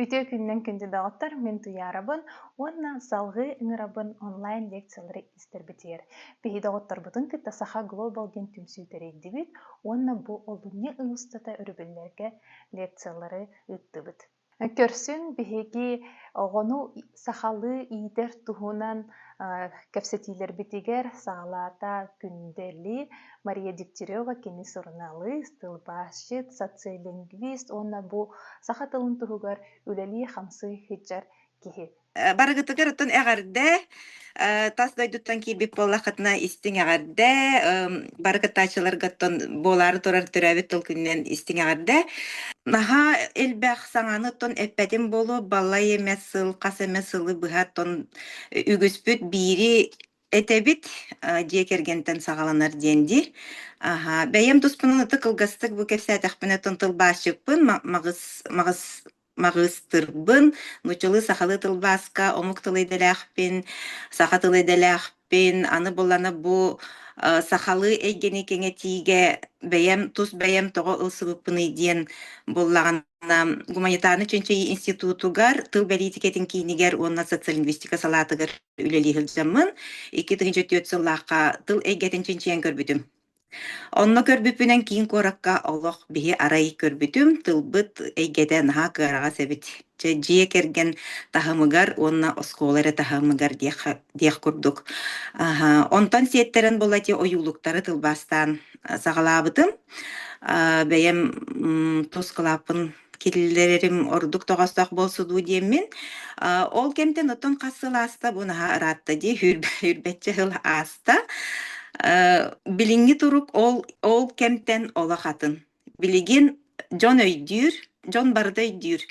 Үтүө күннэн күндү доҕоттор, мин Туйаарабын уонна салҕыы ыҥырабын онлайн лекциялары истэрбитигэр. Биһи доҕотторбутун кытта Саха Глобал диэн түмсүү тэрийдибит уонна бу олунньу ый устата өрөбүллэргэ лекциялары ыыттыбыт. Көрсүн биһиги оҕону сахалыы иитэр туһунан кэпсэтиилэрбитигэр саалаата Күндэли Мария Дегтярева кини суруналыыс, тылбаасчыт, социолингвист уонна бу саха тылын туһугар үлэлии-хамсыы сылдьар киһи. Барыгытыгар оттон эҕэрдэ тас дойдуттан киирбит буоллаххытына истиҥ эҕэрдэ бары кыттааччыларга оттон буолаары турар төрөөбүт тыл күнүнэн истиҥ эҕэрдэ наһаа элбэх саҥаны оттон эппэтим буолуо балай эмэ сыл хас эмэ сылы быһа оттон үгүспүт биири Этэбит дьиэ кэргэнтэн саҕаланар диэн дии. Аһа, бэйэм туспунан ытык кылгастык бу кэпсээтэхпинэ тылбаасчыппын, маҕыс, маҕыс, маҕыстырбын, нуччалыы сахалыы тылбааска омук тылы идэлээхпин, саха тылы идэлээхпин, аны булана бу сахалыы эйгэни кэҥэтиигэ бэйэм тус бэйэм тоҕо ылсыбыппыный диэн буллаҕына гуманитарнай чинчийии институтугар тыл бэлиитикэтин киинигэр уонна социолингвистика салаатыгар үлэлии сылдьаммын икки тыһыынча түөрт сыллаахха тыл эйгэтин чинчийэн көрбүтүм. Онно көрбүппүнэн киин куоракка олох биһи арай көрбүтүм, тылбыт эйгэтэ наһаа кыараҕас эбит. Чэ, дьиэ кэргэн таһымыгар уонна оскуола эрэ таһымыгар диэх диэх курдук. Аһа, онтон сиэттэрэн буоллати ойуулуктары тылбаастаан саҕалаабытым. Бэйэм тус кылааппын Киллэрэрим ордук тоҕостоох буолсу дуу диэммин, а, ол кэмтэн оттон хас сыл ааста бу наһаа ыраатта дии хүрб хүрбэччэ сыл ааста. Э, билиҥҥи турук ол ол кэмтэн олох атын. Билигин дьон өйдүүр, дьон барыта өйдүүр.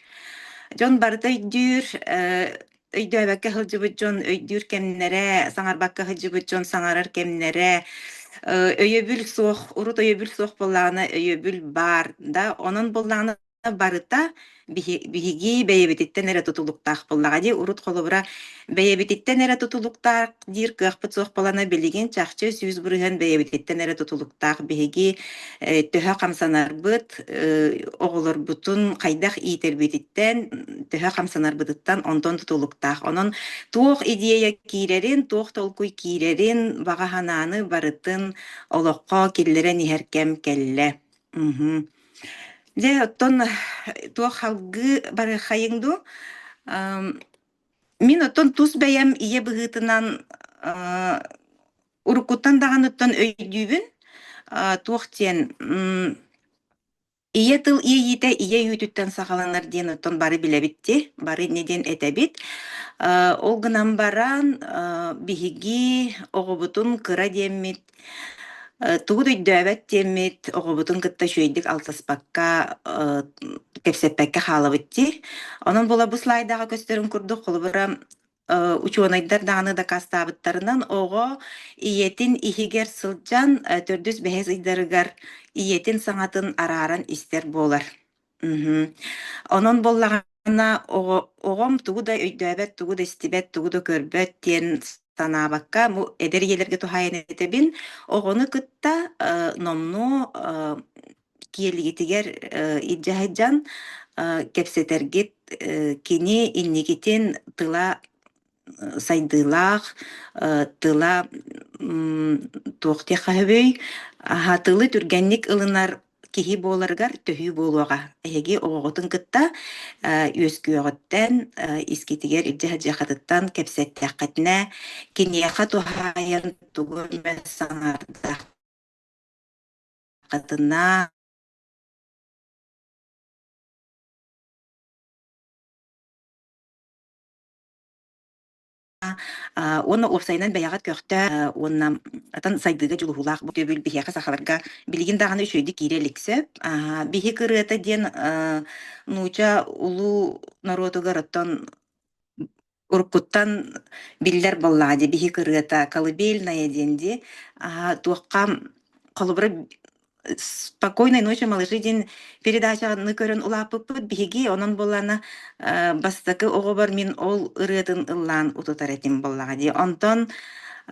Дьон барыта өйдүүр, э өйдөөбөккө сылдьыбыт дьон өйдүүр кэмнэрэ, саҥарбакка сылдьыбыт дьон саҥарар кэмнэрэ, э, өйөбүл суох, урут өйөбүл суох буоллаҕына өйөбүл баар да, онон буоллаҕына барыта биһи биһиги бэйэбититтэн эрэ тутулуктаах буоллаҕа дии. Урут холобура бэйэбититтэн эрэ тутулуктаах диир кыахпыт суох буолана билигин чахчы сүүс бырыһыан бэйэбититтэн эрэ тутулуктаах биһиги э, төһө хамсанарбыт э, оҕолорбутун хайдах иитэрбититтэн төһө хамсанарбытыттан онтон тутулуктаах онон туох идея киирэрин туох толкуй киирэрин баҕа санааны барытын олоххо киллэрэн иһэр кэм кэллэ Мгм. дьэ оттон э, туох салгыы барыаххайыҥ дуу Мин оттон тус бэйэм ийэ быһыытынан, аа, уруккуттан даҕаныттан өйдүүбүн, а, туох диэн, м, ийэ тыл иэйиитэ ийэ үүтүттэн саҕаланар диэн оттон бары билэбит дии, бары ини диэн этэбит. Э, ол гынан баран, э, биһиги оҕобутун кыра диэммит Э, тугут өйдөөбөт диэммит, оҕобутун кытта үчүгэйдик алтыспакка, э, кэпсэппэккэ хаалабыт дии. Онон була бу слайдаҕа көстөрүн курдук, холобура, э, учуонайдар даҕаны дакаастаабыттарынан, оҕо ийэтин иһигэр сылдьан, э, 4-5 ыйдарыгар ийэтин саҥатын арааран истэр буолар. Мгм. Онон буоллаҕына, оҕо оҕом тугу да өйдөөбөт, тугу да истибэт, тугу да көрбөт диэн санаабакка, бу эдэр ийэлэргэ туһаайан этэбин. Оҕону кытта, э, номнуо, э, киэлигитигэр, э, илдьэ сылдьан, э, кэпсэтэргит, э, кини инникитин тыла сайдыылаах тыла туох диэххэ сөбүй аһатыылы түргэнник ылынар киһи буоларыгар төһүү буолуоҕа эһиги оҕоҕутун кытта үөскүөҕүттэн искитигэр илдьэ сылдьыаххытыттан кэпсэттиэххитинэ киниэхэ туһаайан тугу эмэ санаардаххытына А, уонна уопсайынан бэйэҕит көхтөөх э, уонна атын сайдыыга дьулуһуулаах бу өйөбүл биһиэхэ сахаларга билигин даҕаны үчүгэйдик киирэ илик сөп. Аа, биһиги ырыата диэн э, нууча улуу норуотугар оттон уруккуттан биллэр буоллаҕа дии биһиги ырыата колыбельная диэн дии. Аа, туохха холобура "Спокойной ночи, малыши" диэн передачаны көрөн улааппыппыт биһиги. Онон буоллаана, э, бастакы оҕобор мин ол ырыатын ыллаан утутар этим буоллаҕа дии. Онтон,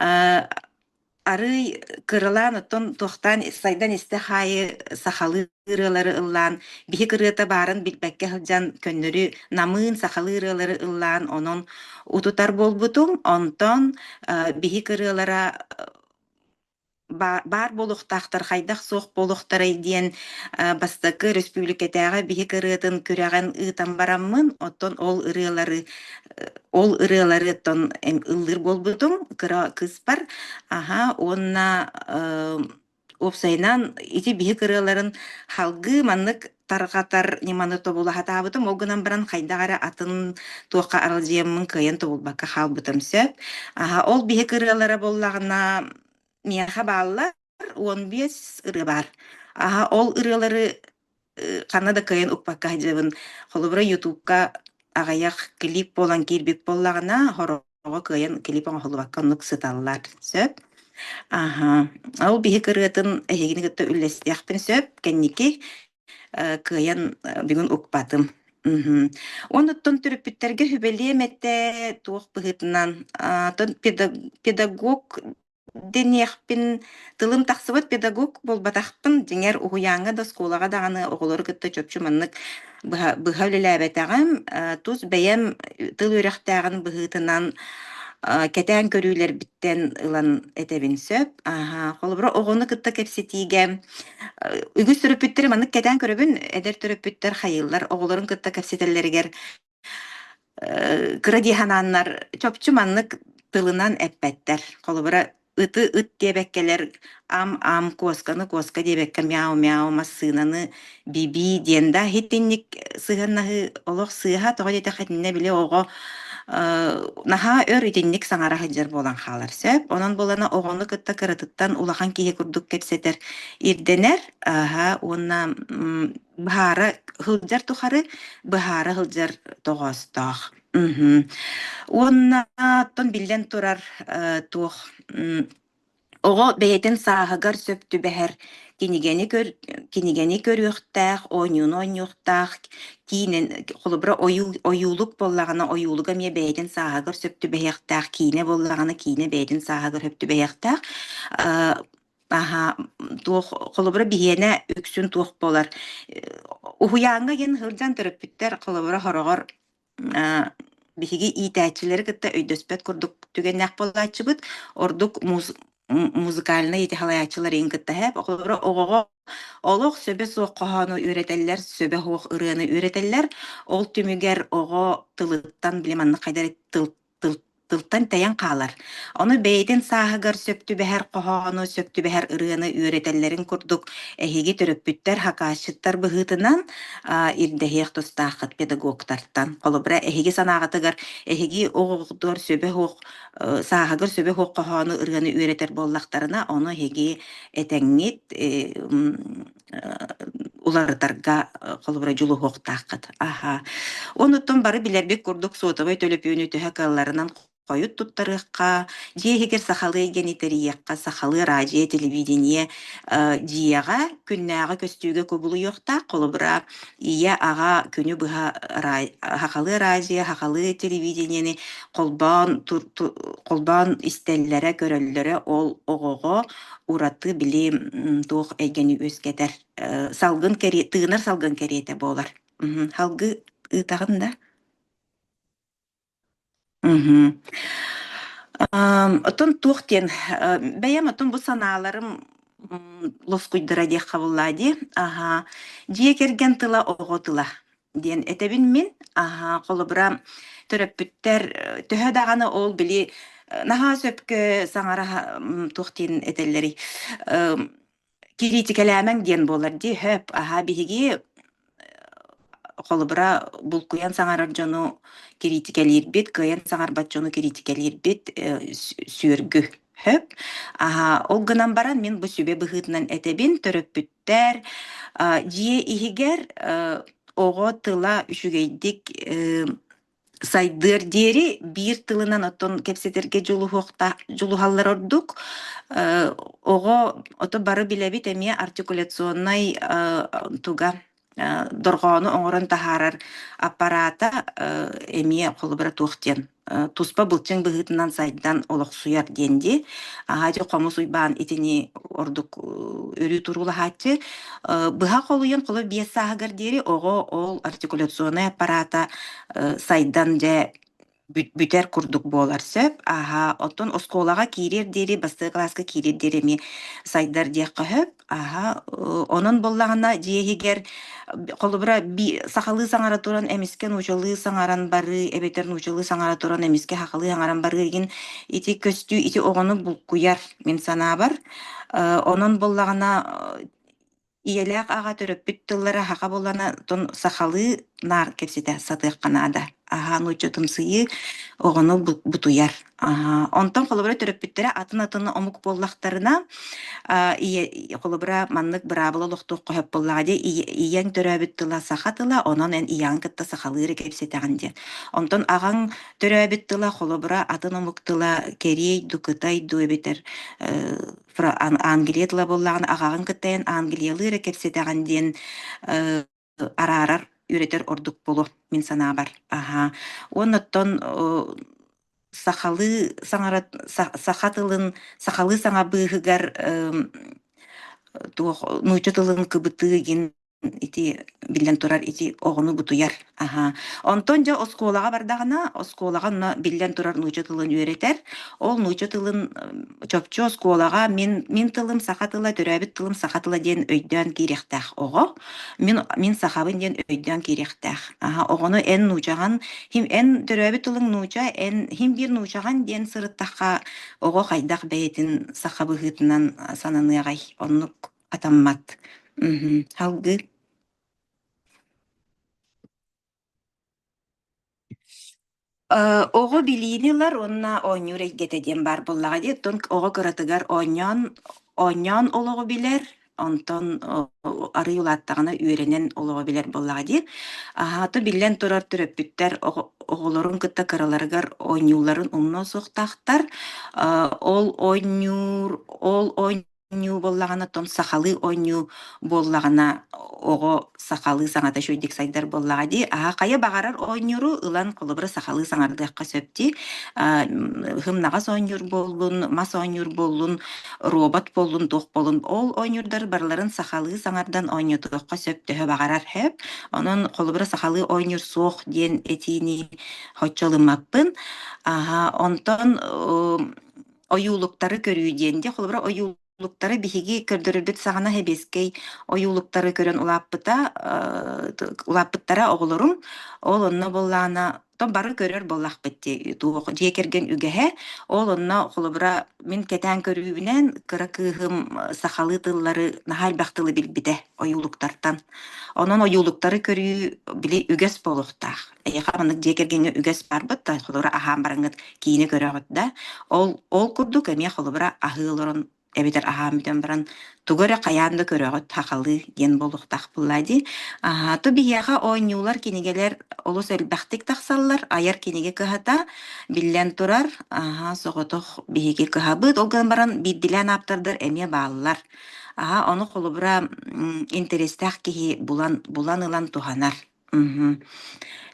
э, арыый кыралаан оттон туохтаан сайдан истэх аайы сахалыы ырыалары ыллаан, биһик ырыата баарын билбэккэ сылдьан, көннөрү намыын сахалыы ырыалары ыллаан онон утутар буолбутум. Онтон, э, биһик ырыалара баар буолуохтаахтар, хайдах-суох буолуохтарай диэн бастакы өрөспүүбүлүкэтээҕи биһик ырыатын күрэҕин ыытан бараммын, оттон ол ырыалары ол ырыаларыттан ыллыыр буолбутум кыра кыыспар. Аһа, уонна, уопсайынан ити биһик ырыаларын салгыы маннык тарҕатар ньыманы тобула сатаабытым. Ол гынан баран хайдах эрэ атын туохха аралдьыйаммын кыайан тобулбакка хаалбытым сөп. Аһа, ол биһик ырыалара буоллаҕына миэхэ бааллар уон биэс ырыа баар. Аһа, ол ырыалары э, ханна да кыайан укпакка сылдьыбын. Холобура, ютубка аҕыйах клип буолан киирбит буоллаҕына, хоро оҕо кыайан клип оҥоһуллубакка оннук сыталлар. Сөп. Аһа. Ол биһик ырыатын эһигини кытта үллэстиэхпин сөп. Кэнники э, кыайан э, бүгүн укпатым. Мгм. Оннуттан төрөппүттэргэ сүбэлиэм этэ, туох быһыытынан, а, педа- педагог Диниэхпин, тылым тахсыбыт педагог буолбатахпын. Дьиҥэр, уһуйааҥҥа да, оскуолаҕа даҕаны оҕолору кытта чопчу маннык быһа быһа үлэлээбэтэҕим. Э, тус бэйэм тыл үөрэхтээҕин быһыытынан, э, кэтээн көрүүлэрбиттэн ылан этэбин сөп. Аһа, холобура, оҕону кытта кэпсэтиигэ э, үгүс төрөппүттэри маннык кэтээн көрөбүн. Эдэр төрөппүттэр хайыыллар, оҕолорун кытта кэпсэтэллэригэр Э, кыра дии санааннар чопчу маннык тылынан эппэттэр. Холобура, ыты ыт диэбэккэлэр ам-ам, куосканы куоска диэбэккэ мяу-мяу, массыынаны би-бии диэн да иһитинник сыһыаннаһыы олох сыыһа тоҕо диэтэх итиннэ били оҕо э, наһаа өр итинник саҥара сылдьар буолан хаалар сөп. Онон буолана оҕону кытта кыратыттан улахан киһи курдук кэпсэтэр, ирдэнэр. Аһа, уонна м, Быһаара сылдьар тухары быһаара сылдьар тоҕоостоох. Мгм. Уонна оттон биллэн турар, э, туох м, оҕо бэйэтин сааһыгар сөп түбэһэр кинигэни көр кинигэни көрүөхтээх, оонньууну оонньуохтаах, киинэн холобура ойуул ойуулук буоллаҕына, ойуулуга эмиэ бэйэтин сааһыгар сөп түбэһиэхтээх, киинэ буоллаҕына, киинэ бэйэтин сааһыгар сөп түбэһиэхтээх. Э, Аһа, туох холобура биһиэнэ үксүн туох буолар? Э, уһуйааҥҥа диэн сылдьан төрөппүттэр холобура хороҕор э, биһиги иитээччилэри кытта өйдөспөт курдук түгэннээх буолааччыбыт. Ордук муус музыкальнай итэҕэлэйээччилэриин кытта һээп. Холобура оҕоҕо олох сөбө суох хоһоону үөрэтэллэр, сөбө суох ырыаны үөрэтэллэр. Ол түмүгэр оҕо тылыттан, били маннык хайдах тыл тыл тылтан тэйэн хаалар. Ону бэйэтин сааһыгар сөп түбэһэр хоһоону, сөп түбэһэр ырыаны үөрэтэллэрин курдук, эһиги төрөппүттэр, хакаасчыттар быһыытынан а, ирдэһиэх тустааххыт педагогтартан. Холобура, эһиги санааҕытыгар эһиги оҕоҕутугар сөбөх оһох э, сааһыгар сөбөх оһох хоһоону, ырыаны үөрэтэр буоллахтарына, ону эһиги этэҥҥит, э, м, уларытарга, э, холобура, дьулуһуохтааххыт. Аһа. Оннуттан бары билэрбит курдук суотабай төлөпүөнү төһө кыалларынан хойут туттарыахха, дьиэ иһигэр сахалыы гени тэрийиэххэ, сахалыы араадьыйа, телевидение, э, дьиэҕэ, күннээҕи көстүүгэ кубулуйуохтаах. Холобура, ийэ-аҕа күнү быһа араа сахалыы араадьыйа, сахалыы телевидениены холбоон тур ту холбоон истэллэрэ, көрөллөрө ол оҕоҕо Ураты били, м, туох эйгэни үөскэтэр, э, салгын кэриэ тыынар салгын кэриэтэ буолар. Мгм. Халгы ыытаҕын да? Мгм. Ам, оттон туох диэн, э, бэйэм оттон бу санааларым, м, лоскуйдара диэх хабыллаа дии. Аһаа. Дьиэ кэргэн тыла, оҕо тыла. диэн этэбин мин. Аһаа, холобура, төрөппүттэр, э, төһө даҕаны ол били, э, наһаа сөпкө саҥараһа, м, туох диэн этэллэрий, ым, кириитикэлээмэҥ диэн буолар дии, хөп, аһаа, биһиги холобура, булкуйан саҥарар дьону кириитикэлиирбит, кыайан саҥарбат дьону кириитикэлиирбит, э, сү сүөргү, хөп. Аһаа, ол гынан баран мин бу сүбэ быһыытынан этэбин төрөппүт Тээр, а, дьиэ иһигэр, э, оҕо тыла үчүгэйдик, э, сайдыар диэри биир тылынан оттон кэпсэтэргэ дьулуһуохта дьулуһаллар ордук. Э, оҕо ото бары билэбит эмиэ артикуляционнай, э, туга, э, дорҕоону оҥорон таһаарар аппараата, э, эмиэ холобура туох диэн туспа былчыҥ быһыытынан сайдан олохсуйар диэн дии. Аһа дьэ хомус уйбаан итини ордук өрүү туруулаһааччы. Быһа холуйан холо биэс сааһыгар диэри оҕо ол артикуляционнай аппарата сайдан дьэ бүтэр курдук буолар сөп. Аһа оттон оскуолаҕа киириэр диэри, бастакы кылааска киириэр диэри эмиэ сайдар диэххэ сөп. Аһа, ы онон буоллаҕына дьиэ иһигэр холобура би сахалыы саҥара туран эмискэ нуучалыы саҥаран барыы, эбэтэр нуучалыы саҥара туран эмискэ сахалыы саҥаран барыы игин ити көстүү ити оҕону булкуйар, мин санаабар. Э, онон буоллаҕына ийэлээх аҕа төрөппүт тыллара саха буоллана тон сахалыы наар кэпсэтэ сатыахха наада. Аһа нууччатымсыйыы оҕону бу бутуйар. Аһа, онтон холобура төрөппүттэрэ атын-атыны омук буоллахтарына, а, ийэ, холобура, маннык быраабыла олохтуохха сөп буоллаҕа дии, ийэ, ийэҥ төрөөбүт тыла саха тыла, онон эн ийэҕин кытта сахалыы кэпсэтэҕин диэн. Онтон аҕаҥ төрөөбүт тыла, холобура, атын омук тыла, кэриэй ду, кытай ду эбэтэр э, Фра- Ан- Англия тыла буоллаҕына, аҕаҕын кытта эн Англиялыы эрэ кэпсэтэҕин диэн э, араарар, үөрэтэр ордук буолуо мин санаабар. Аһаа. Уонна оттон, о сахалыы саҥара са саха тылын сахалыы саҥа быыһыгар, ым, туох нуучча тылын кыбытыы игин ити биллэн турар ити оҕону бутуйар. Аһаа. Онтон дьэ оскуолаҕа бардаҕына, оскуолаҕа онно биллэн турар нуучча тылын үөрэтэр. Ол нуучча тылын, м, чопчу оскуолаҕа мин мин тылым саха тыла, төрөөбүт тылым саха тыла диэн өйдөөн киириэхтээх оҕо. Мин мин сахабын диэн өйдөөн киириэхтээх. Аһа оҕону эн нуудьаҕан, хим эн төрөөбүт тылыҥ нуудьа, эн хим биир нуудьаҕан диэн сырыттахха, оҕо хайдах бэйэтин саха быһыытынан сананыаҕай? Оннук атаммат. Мгм. Салгыы. Э, оҕо билиини ылар уонна оонньуур эйгэтэ диэн баар буоллаҕа дии. Оттон оҕо кыратыгар оонньоон оонньоон олоҕу билэр, онтон о арыый улааттаҕына үөрэнэн олоҕу билэр буоллаҕа дии. Аһаата биллэн турар төрөппүттэр оҕо оҕолорун кытта кыраларыгар оонньууларын умнуо суохтаахтар. Э, ол оонньуур ол оонньуур Оонньуу буоллаҕына, оттон сахалыы оонньуу буоллаҕына, оҕо сахалыы саҥата үчүгэйдик сайдар буоллаҕа дии. А хайа баҕарар оонньууру ылан, холобура, сахалыы саҥардыахха сөп дии. А, һымнаҕас оонньуур буоллун, мас оонньуур буоллун, робот буоллун, туох буоллун, ол оонньуурдар барыларын сахалыы саҥардан оонньотуохха сөп төһө баҕарар сөп. Онон, холобура, сахалыы оонньуур суох диэн этиини оччо ылыммаппын. Аһа, онтон, ы ойуулуктары көрүү диэн. Дьэ, холобура, ойуулуктары биһиги көрдөрөрбүт саҕана сэбиэскэй ойуулуктары көрөн улааппыта, э, улааппыттара оҕолорум. Ол онно буоллаана то бары көрөр буоллахпыт дии туох дьиэ кэргэн үгэһэ. Ол онно холобура мин кэтээн көрүүбүнэн кыра кыыһым э, сахалыы тыллары наһаа элбэх тылы билбитэ ойуулуктартан. Онон ойуулуктары көрүү били үгэс буолуохтаах. Эйиэхэ маннык дьиэ кэргэҥҥэ үгэс барбыт да, холобура, аһаан бараҥҥыт киинэ көрөҕүт да, ол ол курдук эмиэ холобура аһыы олорон эбэтэр аһаан бүтэн баран тугу эрэ хайаан да көрөҕүт, хахалыы диэн буолуохтаахпылла дии. Аа, то биһиэхэ оонньуулар, кинигэлэр олус элбэхтик тахсаллар. Айар кинигэ кыһата, биллэн турар, аһа, соҕотох биһиги кыһабыт. Ол гынан баран биирдилээн ааптардар эмиэ бааллар. Аһа, ону холобура, м, интэристээх киһи булан булан ылан туһанар. Мгм.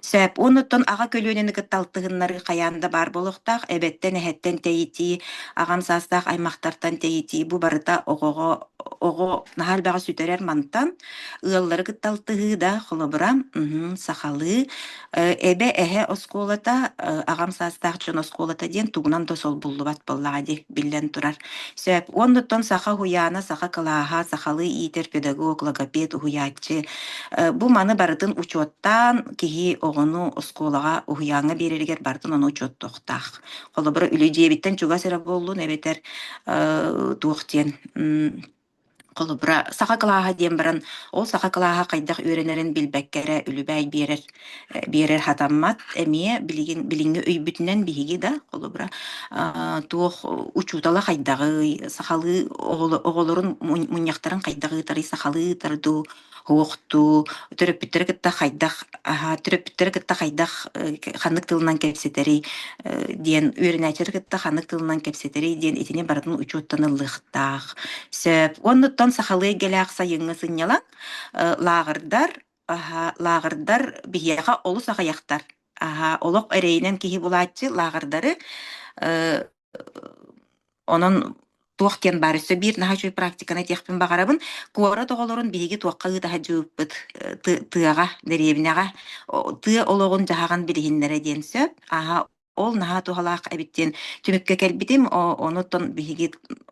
Сөп. Оннуттан аҕа көлүөнэни кытта алтыһыннарыы хайаан да баар буолуохтаах. Эбэттэн, эһэттэн тэйитии, аҕам саастаах аймахтартан тэйитии, бу барыта оҕоҕо оҕо наһаа элбэҕи сүтэрэр мантан. Ыаллары кытта алтыһыы да, холобура, мгм, сахалыы. Э, эбэ, эһэ оскуолата, э, аҕам саастаах дьон оскуолата диэн тугунан да солбуллубат буоллаҕа дии, биллэн турар. Сөп. Оннуттан саха уһуйаана, саха кылааһа, сахалыы иитэр педагог, логопед, уһуйааччы. Э, бу маны барытын учуоттаан, киһи оҕону оскуолаҕа, уһуйааҥҥа биэрэригэр барытын ону учуоттуохтаах. Холобура, үлэ дьиэбиттэн чугас эрэ буоллун эбэтэр, э, туох диэн, м, Холобура, саха кылааһа диэн баран, ол саха кылааһа хайдах үөрэнэрин билбэккэ эрэ үлүбээй биэрэр э, биэрэр хатаммат. Эмиэ билигин билиҥҥи өйбүтүнэн биһиги да, холобура, аа, туох учуутала хайдаҕый, сахалыы оҕоло- оҕолорун мунньахтарын хайдах ыытарый, сахалыы ыытар дуу, Уохтуу, төрөппүттэри кытта хайдах, аһа, төрөппүттэри кытта хайдах ханнык тылынан кэпсэтэрий диэн үөрэнээччилэри кытта ханнык тылынан кэпсэтэрий диэн итини барытын учуоттан ыллыахтаах. Сөп. Оннуттан сахалыы эйгэлээх сайыҥҥы сынньалаҥ, лааҕырдар, аһа, лааҕырдар биһиэхэ олус аҕыйахтар. Аһа, олох эрэйинэн киһи булааччы лааҕырдары Онон туох киэн баар өссө биир наһаа үчүгэй практиканы этиэхпин баҕарабын. Куорат оҕолорун биһиги туохха ыыта садьыйбыт, э, ты тыаҕа, дэриэбинэҕэ о тыа олоҕун-дьаһаҕын билиһиннэрэ диэн сөп. Ааһа ол наһаа туһалаах эбит диэн түмүккэ кэлбитим. О онуттан биһиги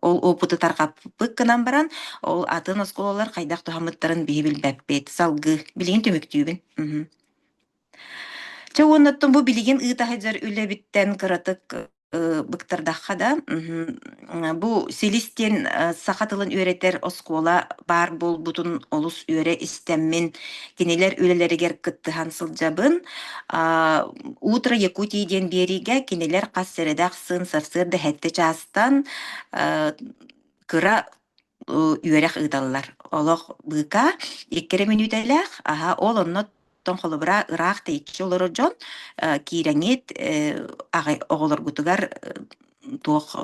ол опыту тарҕаппыт гынан баран, ол атын оскуолалар хайдах туһаммыттарын биһи билбэппит. Салгыы билигин түмүктүүбүн. Мгм. Чэ уоннаттан бу билигин ыыта сылдьар үлэбиттэн кыратык, ы быктардахха да, мхм, бу СИЛИС диэн, э, саха тылын үөрэтэр оскуола баар буолбутун олус үөрэ истэммин, кинилэр үлэлэригэр кыттыһан сылдьабын. А, Утро Якутии диэн биэриигэ кинилэр хас сэрэдээх сын сарсыарда 7 чаастан, э, кыра үөрэх ыыталлар. Олох быыкаа 2 эрэ мүнүүтэлээх, аһа, ол онно оттон холобура ыраах тэйиччи олорор дьон, э, киирэҥит, э, аҕай оҕолоргутугар, э, туох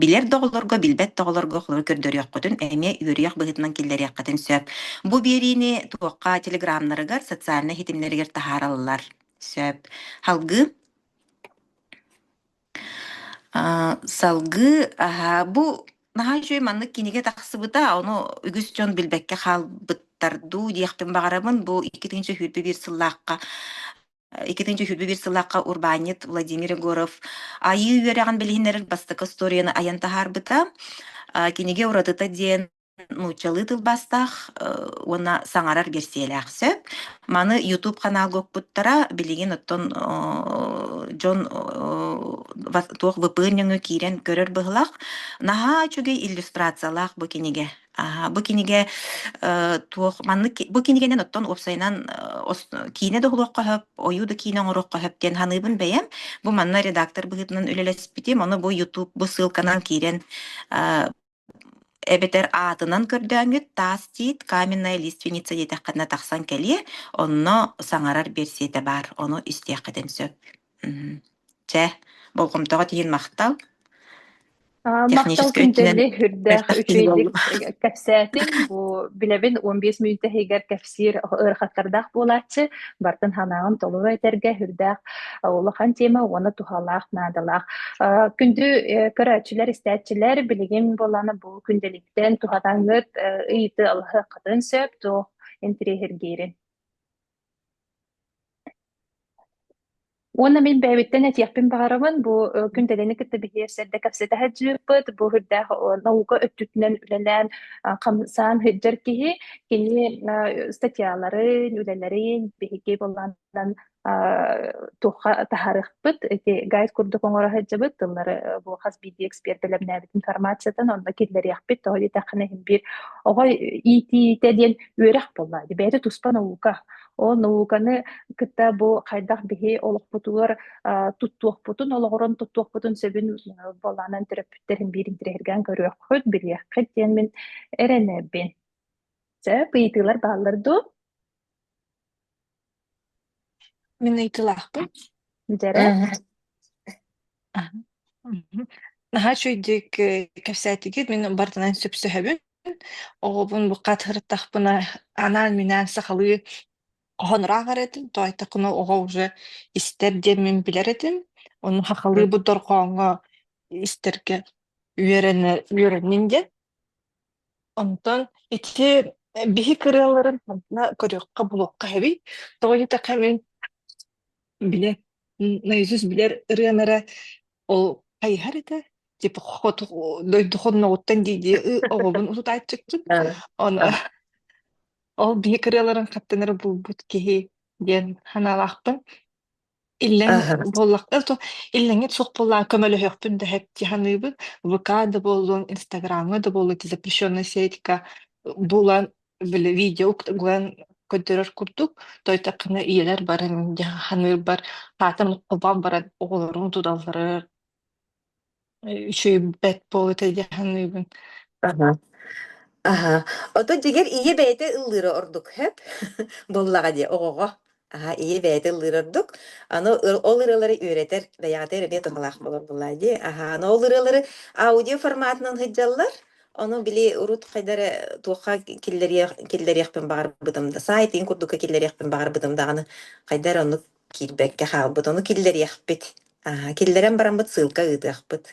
билэр да оҕолорго, билбэт да оҕолорго холобура көрдөрүөххүтүн, эмиэ үөрүйэх быһыытынан киллэриэххитин сөп. Бу биэриини туохха телеграмнарыгар, социальнай ситимнэригэр таһаараллар. Сөп. Салгыы Аа, салгыы аһаа бу наһаа үчүгэй маннык кинигэ тахсыбыта, ону үгүс дьон билбэккэ хаалбыттар дуу диэхпин баҕарабын. Бу иккитинчи сүүрбэ биир сыллаахха э, иккитинчи сүүрбэ биир сыллаахха урбаанньыт Владимир Егоров Айыы үөрэҕин билиһиннэрэр бастакы историяны айан таһаарбыта. А, кинигэ уратыта диэн Нууччалыы тылбастаах, э, уонна саҥарар гирсиэлээх сөп. Маны YouTube ханаалга укпуттара, билигин оттон оо дьон оо вас туох VPN нөҥүө киирэн көрөр быһылах. Наһаа үчүгэй иллюстрациялаах бу кинигэ. Аһа, бу кинигэ, э, туох маннык бу кинигэнэн оттон уопсайынан, э, ос киинэ да уһулуохха сөп, ойуу да киинэ оҥоруохха сөп диэн саныыбын бэйэм. Бу манна редактор быһыытынан үлэлэспитим, ону бу YouTube бу ссылканан киирэн, э эбэтэр аатынан көрдөөҥҥүт таас тиит каменная лиственница диэтэххинэ тахсан кэлиэ онно саҥарар биэрсиэтэ баар ону истиэххитин сөп мм чэ болҕомтоҕо тиийин махтал техническэй өттүнэн мөлтөх күн буолла кэпсээтин бу билэбин он бес мүнүүтэ иһигэр сир ыарахаттардаах буолааччы бартын санааҕын толору этэргэ үрдээх улахан тема уонна туһалаах наадалаах күндү көрөөччүлэр истээччилэр билигин буоланы бу күндэликтен тухатаңыт ыйыты алыһыккатын сөп туох интриһиргейрин Уонна мин бэйэбиттэн этиэхпин баҕарабын, бу э, күн дэлэни кытта биһиэсэрдэ кэпсэтэ сылдьыппыт, бу үрдээх о, наука өттүтүнэн үлэлээн а, хамсаан сылдьар киһи, кини а, статьяларын, үлэлэрин биһиги былаанынан а, туохха таһаарыахпыт, ити гайд курдук оҥоро сылдьабыт, тыллары э, бу хас биирдии экспертэлэмнээбит информациятын онно киллэриэхпит, тоҕо диэтэххинэ иһин биир оҕо иитиитэ диэн үөрэх буолла, бэйэтэ туспа наука, Ол науканы кытта бу хайдах биһи олохпутугар туттуохпутун, олоҕуран туттуохпутун сөбүн буолаанан төрөппүттэрин биирин тирэһиргээн көрүөххүт, билиэххит диэн мин эрэнэбин. Сөп, ыйытыылар бааллар дуу? Мин ыйытыылаахпын. Дьэрэ. Наһаа үчүгэйдик кэпсээтигит, мин бартынан сөпсөһөбүн. Оҕобун буккат ырыттахпына анаан-минээн сахалыы хоһонураах этин, тоайтакуна оҕо уже истэр диэн мин билэр этим. Ону сахалыы бу дорҕооҥҥо истэргэ үөрэнэ үөрэннин диэн. Онтон ити э, биһи кырыаларын манна көрүөххэ-булуохха эбий. Тоҕо диэтэххэ мин бile наизусть билэр ырыам эрэ ол хайыһар этэ типа хоту дойду хонноҕуттан дии оҕобун утутааччыккын оны ол биһи кырыаларын хаттан эрэ булбут киһи диэн санаалаахпын Иллэҥ Аһа. буоллахтар то иллэҥит суох буоллаан көмөлөһүөхпүн да һэпти саныыбын. ВК да буоллун, Инстаграмҥа да буоллун эти запрещенная сетика булан били видео уктуган көрдөрөр курдук тойтакына ийэлэр баран дьэ ханыырбар хаатым холбоон баран оҕолорум туталлар Үчүгэй бэт буолу тэдьэ саныыбын. Аһа. Аһа. Ото дьигэр ийэ бэйэтэ ыллыыра ордук хөп? Буоллаҕа дии оҕоҕо. Аһа, ийэ бэйэтэ ыллыыр ордук. Аны ол ырыалары үөрэтэр, бэйэҕитигэр эмиэ туһалаах буолар буоллаҕа дии. Аһа, аны ол ырыалары аудио форматынан сылдьаллар. Ону били урут хайдары туохха киллэриэх киллэриэхпин баҕарбытым да, саайтын курдукка киллэриэхпин баҕарбытым даҕаны, хайдары оннук Киирбэккэ хаалбыт, ону киллэриэхпит. Аа, киллэрэн бараммыт сыылка ыытыахпыт.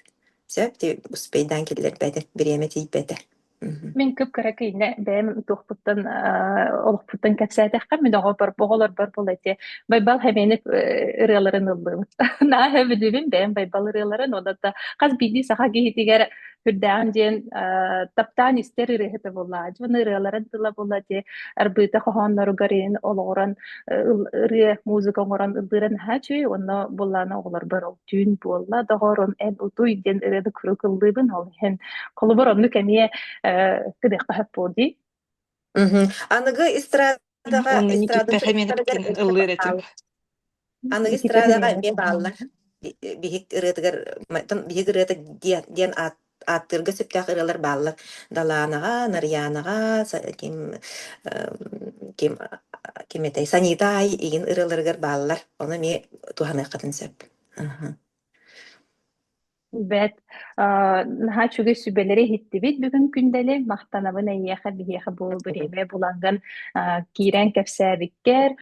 Сөп, ти успейдаан киллэрбэтэ, бириэмэ тиийбэтэ. Мгм. Мин кып-кыра киинэ бэйэм утуохпуттан аа, олохпуттан кэпсээтэххэ, мин оҕобор, оҕолорбор була ити байбал хэмээник э, ырыаларын ыллым. Наһаа сөбүлүүбүн бэйэм байбал ырыаларын, уонна да хас биирдии саха киһитигэр Күрдээн диэн таптаан истэр ырыаһыта буолла. Дьон ырыаларын тыла буолла те арбыыта хоһоонноругар иһин олоҕуран ырыа музыка оҥорон ыллыран ха чүй онно буллаана оҕолорбор ол түүн буолла доҕорун эн утуй диэн ырыаны куруук ыллыыбын ол иһин холобур оннук эмиэ кыдыахха сөп буолдii аныгы эстрада Даҕа Оннук эстрадатын эппэхэ миэнэ чугастарыгар битин ыллыыр этим. аныгы эстрадаҕа эмиэ бааллар. Биһик ырыатыгар биһик ырыата диэн диэн ааттыырга сөптөөх ырыалар бааллар. Далаанаҕа, Нарыйаанаҕа, ким ким ким этэй Санита Ай игин ырыаларыгар бааллар. Ону эмиэ туһаныаххытын сөп. Бэт, э, наһаа үчүгэй сүбэлэри иһиттибит бүгүн күндэли. Махтанабын эйиэхэ, биһиэхэ бу бэриэмэ булангын э, киирэн кэпсээбиккэр.